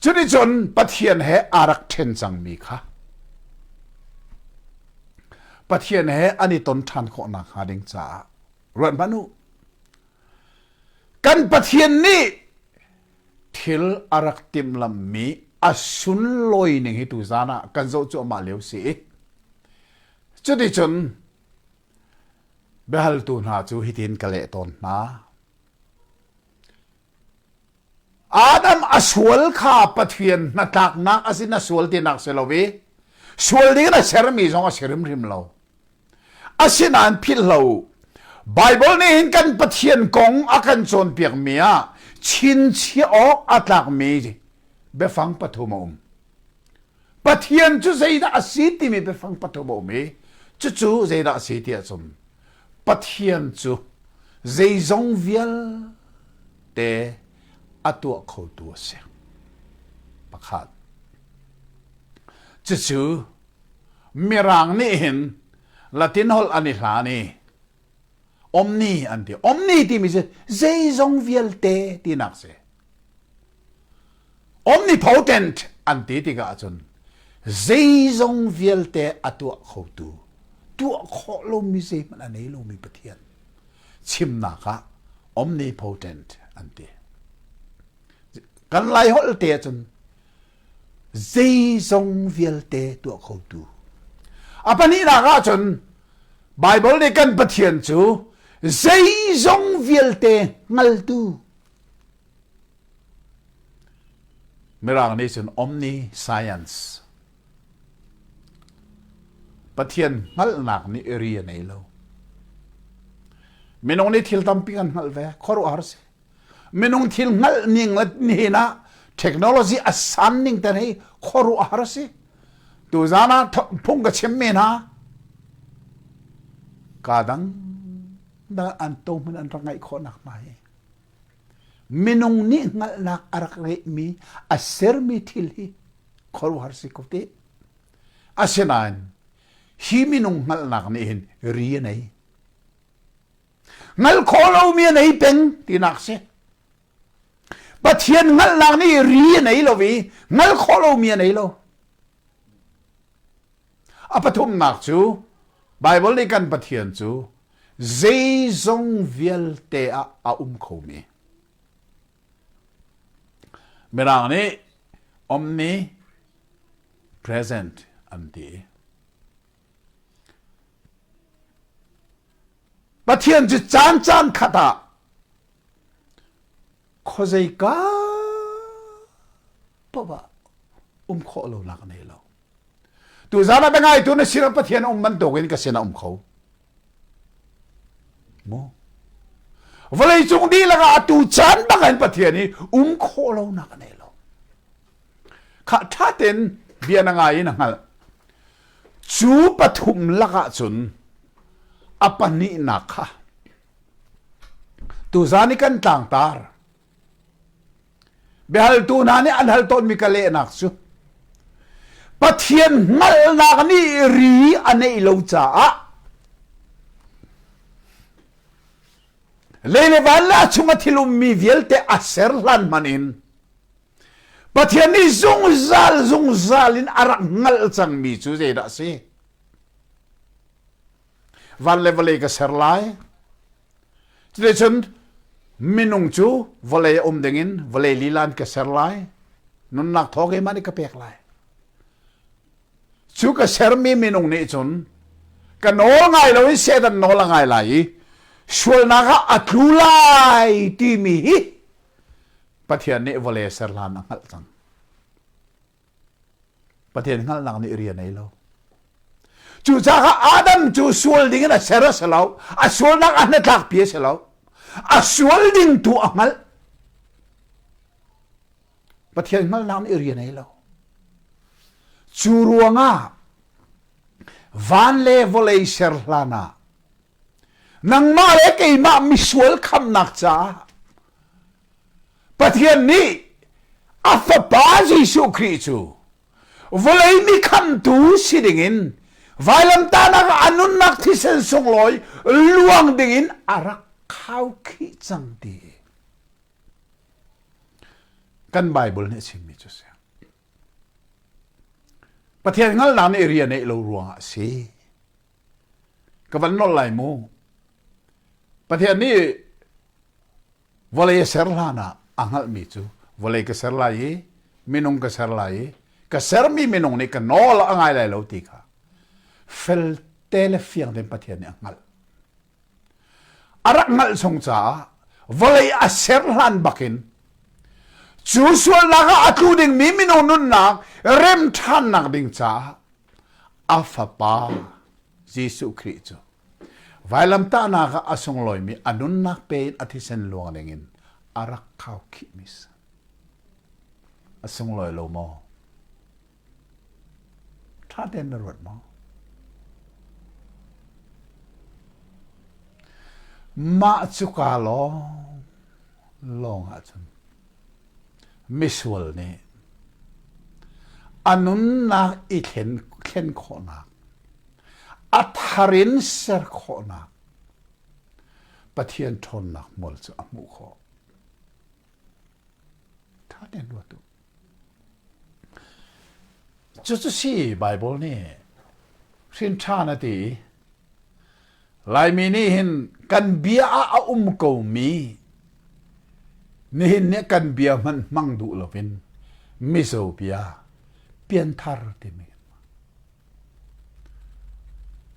Cunicun Pathian he aa rak ṭhen cangmi kha Pathian he an i ton ṭhan khawh nakhnga ding caah ruat hmanh u. Kan Pathian nih thil a rak timhlamhmi a sunlawi ning hi tu zan ah kan zoh cu amah lio si i cuticun biahaltu hna cu hitin ka leh tawn hna Adam a sual kha Pathian hnatlaknak a si na sual tinak si lo i sual ding na sermi zong a si hrimhrim lo Asinain philhlo Baibal nih hin kan Pathian kong a kan cawnpiakmi ah chinchiah awk a tlakmi biafang pathum a um. Pathian cu zeidah a si timi biafang pathum a um i cucu zeidah a si ti a sum. Pathian cu zeizong vialte a tuah khotu a si. Pakhat. Cucu Mirang nih hin Latin holh an i hlan i omni an ti. Omni timi cu zeizong vialte tinak si. Omnipotent an ti tikah ahcun zeizong vialte a tuah khotu, tuah khawh lomi zeihmanh a nei lomi Pathian chimnak ah omnipotent an ti. Kan Lai holh te ahcun zeizong vialte tuah khotu. A pahnihnak ah cun Bible nih kan Pathian cu zeizong vialte hngaltu Mirang nih cun omni science Pathian hngalhnak nih ri a nei lo minung nih thil tampi kan hngalh ve khuaruahhar si minung thil hngalh ning le hin ah technology a san ning te hi khuaruah har si tu zan ah phung ka chim me na ka dang dal an to mun an rak ngai kho nak mai minung ni ngal nak arak re mi a ser mi thil hi khoru har si ko te asinain hi minung ngal nak ni hin ri nei Ngal khawh lomi a nei peng tinak si. Pathian ngalhnak nih ri a nei lo i ngal khawh lomi a nei lo. A pathumnak cu Baibal nih kan Pathian cu zeizong vialte ah a um khomi. Mirang nih omni present an ti. Pathian cu caan caan khat ah khuazeika paoh ah um khawh lo lak nei lo. Tu zan ah biangaitu na sinak Pathian um bantuk in ka sin ah um kho. Mo. Vawlei cung dihlak ah atu caan bang in Pathian i um khawh lo nak nei lo. kha ṭha tein bia na ngai in a hngalh cu pathum lakah cun a pahnihnak kha tuzan i kan tlangtar biahaltu hna nih an hal tawnmi ka lehnak cu pathian hngalhnak nih ri a neih lo caah lei le van la chunga thil ummi vialte a ser hlan hman in Pathian nih zungzal zungzal in a rak hngalh cangmi cu zeidah a si? Van le vawlei ka ser lai. Cuti cun minung cu vawlei a um dingin vawlei lilan ka ser lai. Nunnak thawng he mah nih ka pek lai. Cu ka sermi minung nih cun ka nawl ngai lo in Satan nawl a ngai lai i sualnak ah a tlu lai timi hi Pathian nih vawle ser hlan a hngalh cang. Pathian hngalhnak nih rian ei lo. Cucaah Adam cu sual dingin a ser a si lo. A sualnak a hnatlakpi a si lo. A sual ding tu a hngalh. Pathian hngalhnak nih rian ei lo. Cu ruangah van le vawlei ser hlan ah Nangmah le keimah misual khamnak caah Pathian nih a fapa Jesuh Khrih cu vawlei mi khamtu si dingin vailamtanak a nunnak thisen sunglawi luang dingin a rak khau khi cang ti kan Bible nih a chimmi cu si Pathian hngalhnak nih rian neih lo ruangah a si ka van nol lai mu pathian nih vawlei a ser hlan ah a hngalhmi cu vawlei ka ser lai i minung ka ser lai i ka sermi minung nih ka nawl a ngai lai lo ti kha felte le fiang tein pathian nih a hngalh a rak ngalh chung caah vawlei a ser hlan bakin cu sualnak ah a tlu dingmi mino nunnak rem ṭhannak ding caah a fapa Jesuh Khrih cu vailamtahnak ah a sunglawimi a nunnak pe in a thisen luang dingin a rak khau khihmis a sunglawi lo maw ṭha tein na ruat maw? Mah cu kaa lawng lawng ahcun misual nih a nunnak i thlen, thlen khawhnak, a thar in ser khawhnak, Pathian ṭhawnnak hmual cu a hmuh khawh. Ṭha tein ruat u. Cucu si Baibal nih hrinṭhan a ti. Laimi nih hin kan bia ah a um komi nihin nih kan bia hmanh hmang duh loin mizo bia pianthar timi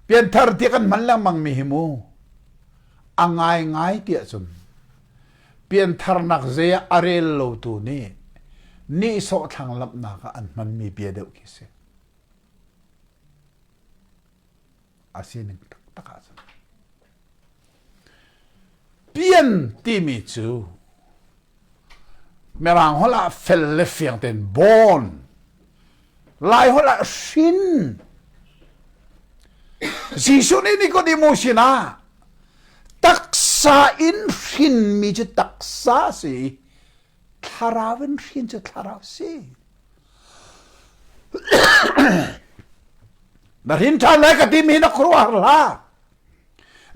pianthar ti kan hman lengmang mi hi mu a ngai ngai tiah cun Piantharnak zei ah a rel lotu nih nihsawh thlanglamhnak ah an hmanmi bia deuh khi si. A sining taktak ah cun. Pian timi cu Mirang holh ah fel le fiang ten born Laiholh ah hrin. Jesuh nih Nicodemus sinah taksa in hrinmi cu taksa a si i thlarau in hrin cu thlarau a si. Na hrin ṭhan lai ka timi hi na khuaruahhar hlah.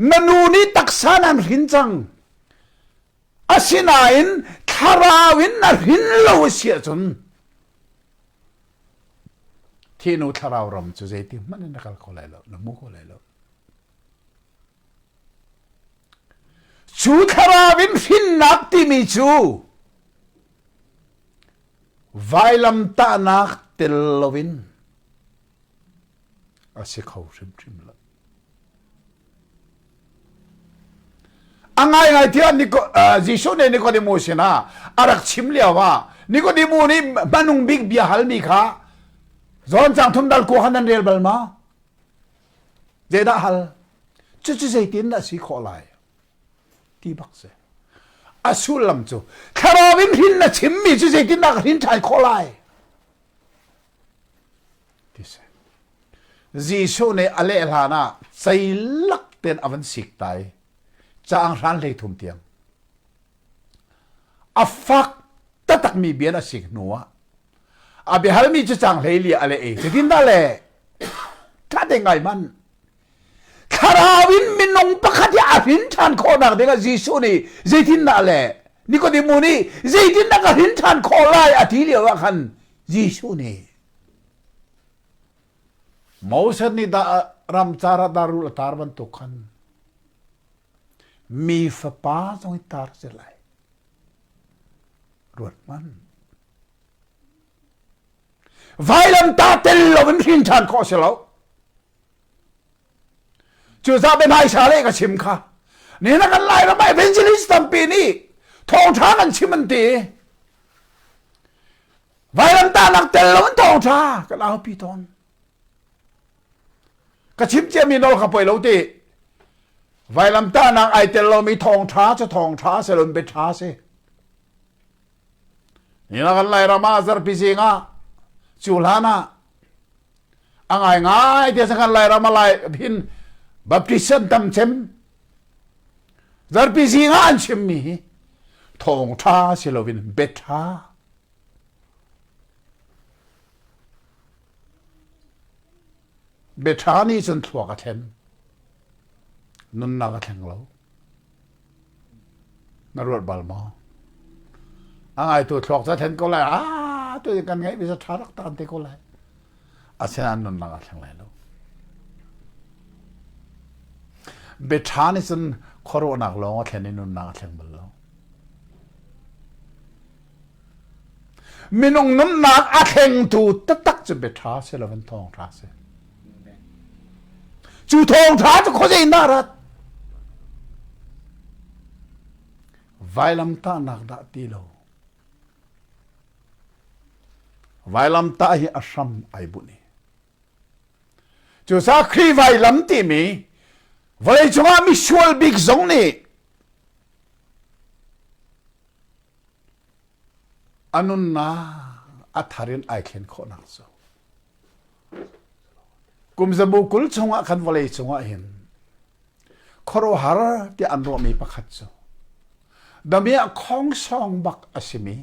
Na nu nih taksa nan hrin cang. Asinain thlarau in na hrin lo a si ahcun thinu thlarau ram cu zeiti hmanh in na kal kho lai lo, na hmu kho lai lo. Cu thlarau in hrinnak timi cu vailamtahnak tel loin A si kho hrimhrim lo. A ngaingai tiah Jesuh nih Nikodemo sinah a rak chim lio ah Nikodemo nih hmanung bik bia halmi kha John chang thum dal ku han an rel bal ma? Zeidah hal? Cucu zeitin a si khawh lai? Ti bak se. A sullam cu thlarau in rin na chimmi cu zeitindah ka rin ṭhai khawh lai? Jesuh nih a leh hlan ah ceilak tein a van sik ta i caang hran hlei thum tiang a fak takmi bian a sik hnu ah a biahalmi cu caang hlei li a leh i cutin dah le ṭha te ngai man thlarau in minung pakhat hi a hrin ṭhan khawhnak dingah Jesuh nih zeitindah a leh Nikodemu nih zeitindah ka hrin ṭhan khawh lai a ti lio ah khan Jesuh nih Moses nih dah ramcar ah darul a tar bantuk khan mi fapa zong i tar si lai ruathman vailam ta tel lo in hrin ṭhan khawh si lo cu sa pe hmaisa le ka chim kha ni na kan lai ram evangelist tampi nih thawngtha kan chim an ti vailamta nak tel lo in thawngtha kan aupi tawn ka chim cia mi nol ka poi lo ti vailamta nak ai tel lomi thawngtha cu thawngtha se lon be tha se Nihin ah kan Lairam ah zarhpi zing ah cu hlan ah a ngai ngai ti kan Lairam a lai hin Baptist an tam cem zarhpi zing ah an chimmi hi thawng ṭha si loin bet ṭha bia ṭha nih cun thluak a thlen nunnak a thleng lo Na ruat bal maw? A ngaitu thluak cu a thlen ko lai. Ah, tutin kan ngaih visa ṭha rak taan te ko lai. Asinain nunnak a thleng lai lo. Biaṭha nih cun khuaruahnak lawng a thlen i nunnak a thleng bal lo. Minung nunnak a thlengtu taktak cu biaṭha si lo in thawngṭha si. Cu thawngṭha cu khuazei na rat? Vailamtahnak dah ti lo. Vailamtah hi a hram ai bunh i. Cu sakhi vailam timi vawlei cungah misual bik zong nih A nunnak a thar in ai thlen khawhnak cu kumzabu kul chungah khan vawlei cungah hin khuaruahhar tiah an ruahmi pakhat cu damiah khongsong bak a simi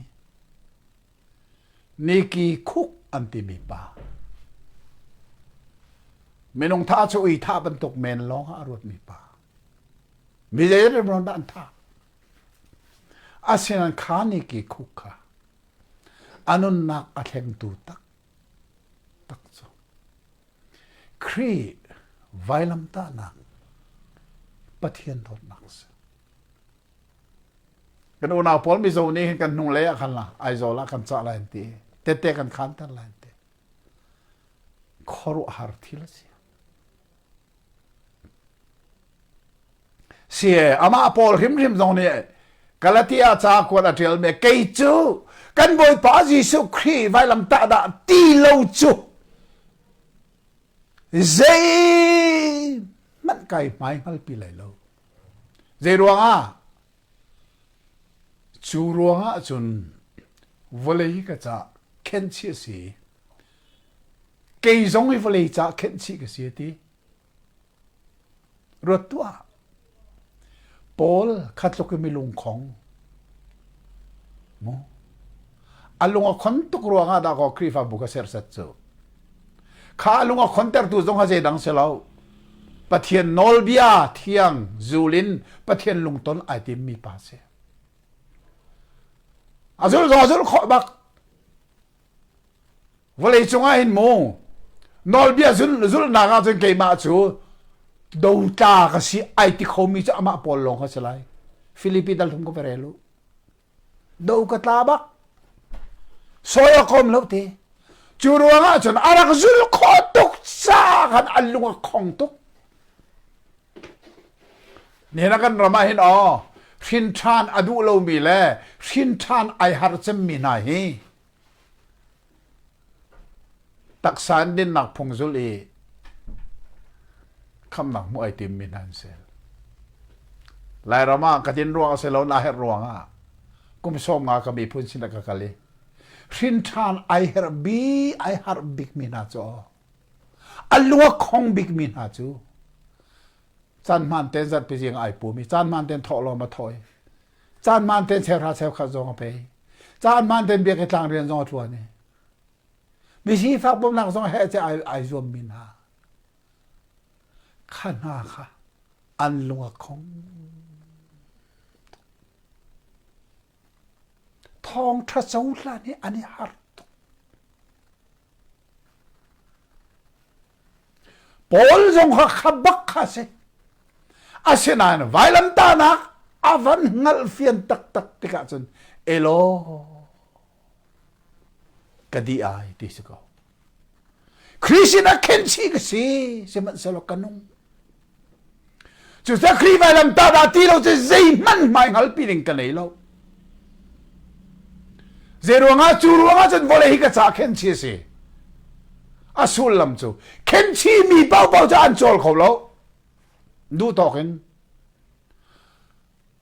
niki khuk an timi pa minung tha cu ui tha bantuk men lawng ah a ruatmi pa mi zei rimron dah an tha Asinain kha nih ke khuk kha a nunnak a thlengtu tak tak cu Khrih vailamtahnak Pathian dawtnak a si. Kan unau pawl mizo nih hin kan hnung lei ah khan la Aizawl ah kan cah lai an ti tete kan khanter lai an ti khuaruahhar thil a si Si amah Paul hrimhrim zong nih Galatia ca kuat a ṭialmi kei cu kan Bawipa Jesuh Khrih vailamtah dah ti lo cu zei hmanh kai hmai hngalpi lai lo. Zei ruangah? Cu ruangah cun vawlei ka ca khenchi a si. Kei zong hi vawlei ca khenh chih ka si a ti. Ruat tuah. Paul kha tluk in mi lungkhong. Mu. A lung a khon tuk ruangah dah ko Khrihfabu ka sersat cu. Kha a lung a khontertu zong ha zeidang se lo. Pathian nawlbia thiang zulin Pathian lungton ai timmi pa si. A zul zong a zul khawh bak. vawlei cungah hin mu nawlbia zulhnak ah cun keimah cu dotla ka si ai ti khomi cu amah pawl lawng ka si lai filipi dal thum ka vere lu do ka tla bak soi a kom lo te cu ruang ah cun a rak zul khawh tuk sa khan an lung a khong tuk Hnena kan ram ah hin aw hrinṭhan a duh lomi le hrinṭhan ai har cemmi hna hi taksa in dinnak phung zul i khamnak hmuh ai timmi hna an si. Lairam ah ka din ruang a si lo na herh ruang ah kum sawm nga ka miphun sin ka kal i hrinṭhan ai herh bi ai harh bikmi hna cu A lu a khong bikmi hna cu caan hmaan ten zat pi zing ai pum i caan hmaan ten thawh lawng ma thawi caan hmaan ten serha seu khat zong a pei caan hmaan ten biak i tlang rian zong a tluan i misi fak pumnak zong he che ai ai zuam mi hna kha hna kha an lung a khong Thawngṭha cohlan hi an i harh tuk. Paul zong kha kha bak kha a si. Asinain vailamtahnak a van hngalh fian taktak tikah cun, elo, ka di ai ti si ko. Khrih sin ah khen si ka si sihmanhsehlaw ka nung cucun Khrih vailam ta dah ti lo cu zei hmanh hmai hngalpi ding ka nei lo zei ruangah cu ruangah cun vawlei hi ka ca khen si a si a sullam cu khen si mi paohpaoh cu an cawl kho lo duh tawk in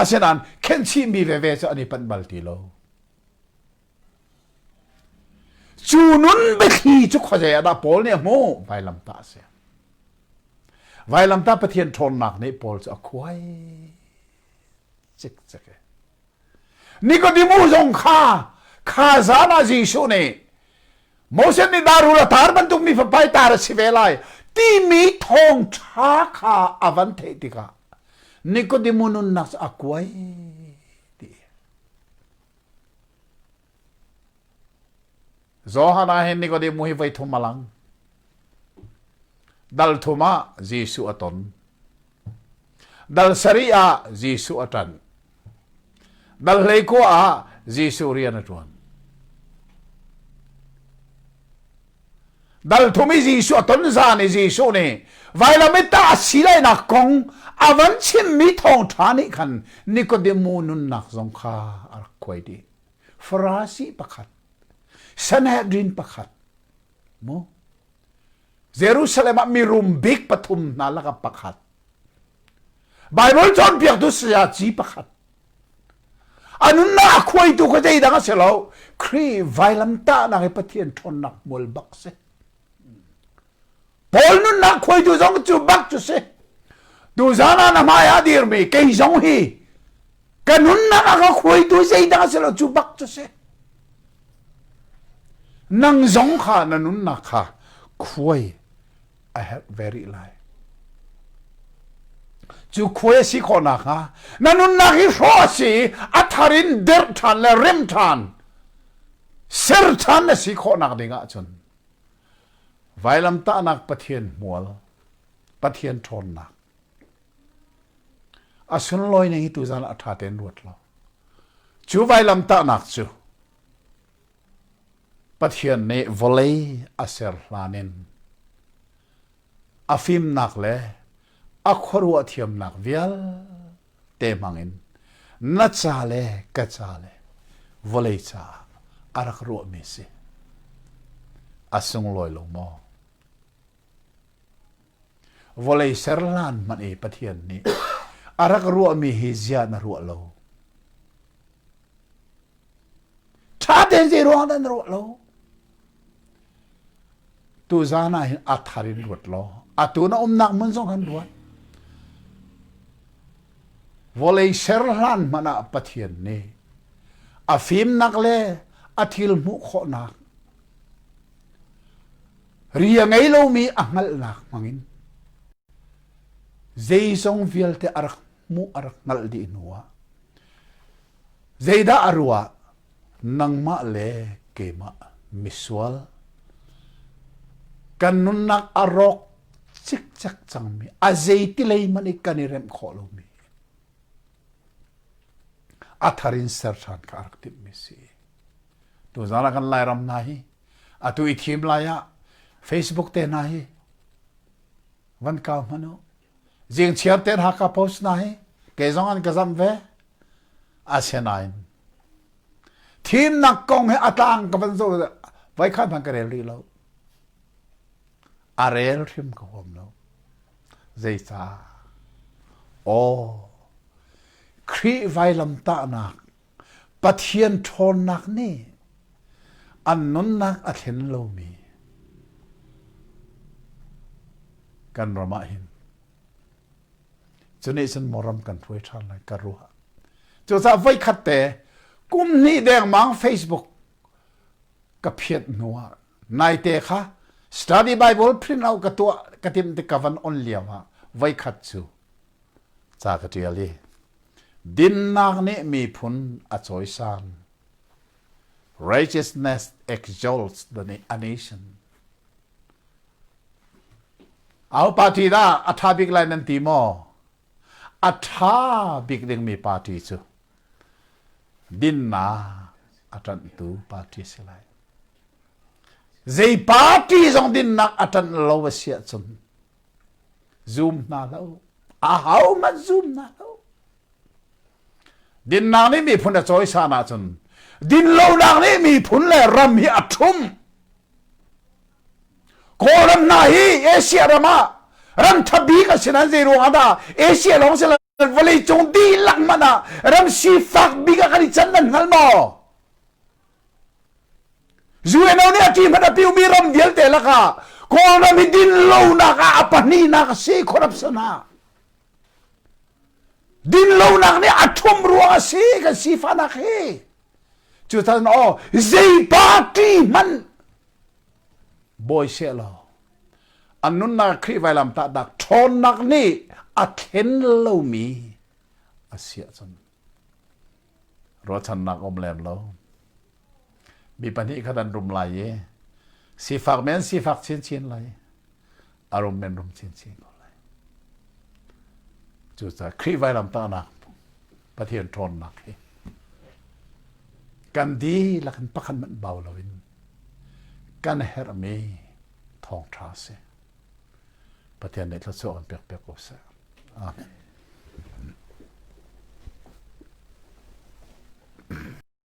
Asinain khenhchihmi veve cu an i panh bal ti lo. Cu nun biathli cu khuazei ah dah Paul nih a hmuh? Vailamtah a si. Vailamtah Pathian ṭhawnnak nih Paul cu a khuai cikcek. Nikodemu zong kha kha zan ah Jesuh nih Moses nih darul a tar bantuk mi fapai tar a si ve lai timi thawngṭha kha a van theih tikah Nikodemu nunnak cu a kuai ti. Johan ah hin Nikodemu hi voi thum a lang. Dal thum ah Jesuh a ton. Dal sari ah Jesuh a tan. Dal hlei kua ah Jesuh rian a tuan. Dal thum i Jesuh a ton zan i Jesuh nih vailamita a silainak kong avan chim mi thawngtha nih khan Nikodemu nunnak zong kha a rak kuai dih. Farasi pakhat, Sanhedrin pakhat, mu Jerusalem ah mirum bik pathum hna lakah pakhat, Baibal cawnpiaktu sayaci pakhat, a nunnak a khuaitu kha zeidang a si lo, Khrih vailamtahnak i Pathian ṭhawnnak hmual bak si. Paul nunnak khuai tu zong cu bak cu si tu zan ah na hmai ah dir mi kei zong hi ka nunnak a ka khuai tu zeidah a si lo cu bak cu si nang zong kha na nunnak kha khuai a help very lai cu khuai a si khawhnak hnga na nunnak hi hrawh a si a thar in derh ṭhan le rem ṭhan ser ṭhan a si khawhnak ding ah cun Vailamtahnak Pathian hmual, Pathian ṭhawnnak. A sunlawi ning hi tuzan a ṭha tein ruat law. Cu vailamtahnak cu Pathian nih vawlei a ser hlan in a fimnak le a khuaruah thiamnak vialte hmangin na ca le ka ca le vawlei caah a rak ruahmi si a sunglawi lo maw vawlei serhlan hmanh e pathian nih a rak ruahmi hi ziah na ruah lo ṭha tein zei ruang dah na ruah lo Tuzan ah hin a thar in luat law atu na umnak hmun zong kan luat. Vawlei ser hlan hmanh ah Pathian nih a fimnak le a thil hmuh khawhnak ri a ngei lomi a hngalhnak hmangin zeizong vialte a rak hmuh a rak hngalh dih hnu ah zeidah a ruah nangmah le keimah misual kan nunnak a rawk cikcek cangmi a zeiti lei man i kan i remh khawh lomi a thar in ser ṭhan kha a rak timhmi si tuzan ah kan lairam hna hi atu i thim lai ah facebook te hna hi van kau hmanh u Jengchiar te Hakha Post hna hi kei zong an ka zamh ve. Asinain thimnak kong hi a tlang ka van zo vai khan hman ka rel rih lo. A rel hrim ka huam lo. Zeicah? Aw, Khrih vailamtahnak Pathian ṭhawnnak nih an nunnak a thlen lomi kan ram ah hin cu nih cun maw ram kan hruai ṭhan lai ka ruah cucaah voikhat te kum hnih dengmang Facebook ka phiat hnu ah Naite kha Study Bible print out ka tuah ka timh tik ka van on liam ah voikhat cu ca ka ṭial i dinnak nih miphun a cawisan righteousness exalts the a nation au party da a ṭha bik lai nan ti maw a ṭha bik ding mi party cu dinnak a ṭanhtu party a si lai. Zei party zong dinnak a ṭanh lo a si ahcun zum hna lo. A hohmanh zum hna lo. Dinnak nih miphun a cawisan ahcun dinlonak nih miphun le ram hi a ṭhum. Kawlram hna hi Asia ram ah ram ṭha bik a si nan zei ruang ah dah Asia lawng si lo vawlei cung dihlak hmanh ah ram sifak bik ah kan i can nan hngal maw UNO nih a ṭi hmanh a piumi ram vialte lakah Kawlram hi din lonak ah a pahnihnak a si corruption ha din lonak nih a ṭhum ruang a si kan sifahnak hi cu tan aw zei party hmanh boi se law an nunnak Khrih vailamtahnak ṭhawnnak nih a thlen lomi a siah cun ruahchannak um lem lo mi pahnih khat an rum lai i sifak men sifak chinchin lai a rum men rum chinchin ko lai cucaah Khrih vailamtahnak Pathian ṭhawnnak hi kan dihlak in pakhat hmanh bau loin kan herhmi thawngṭha a si. Pathian nih thluachuah kan pekpiak ko seh. Amen.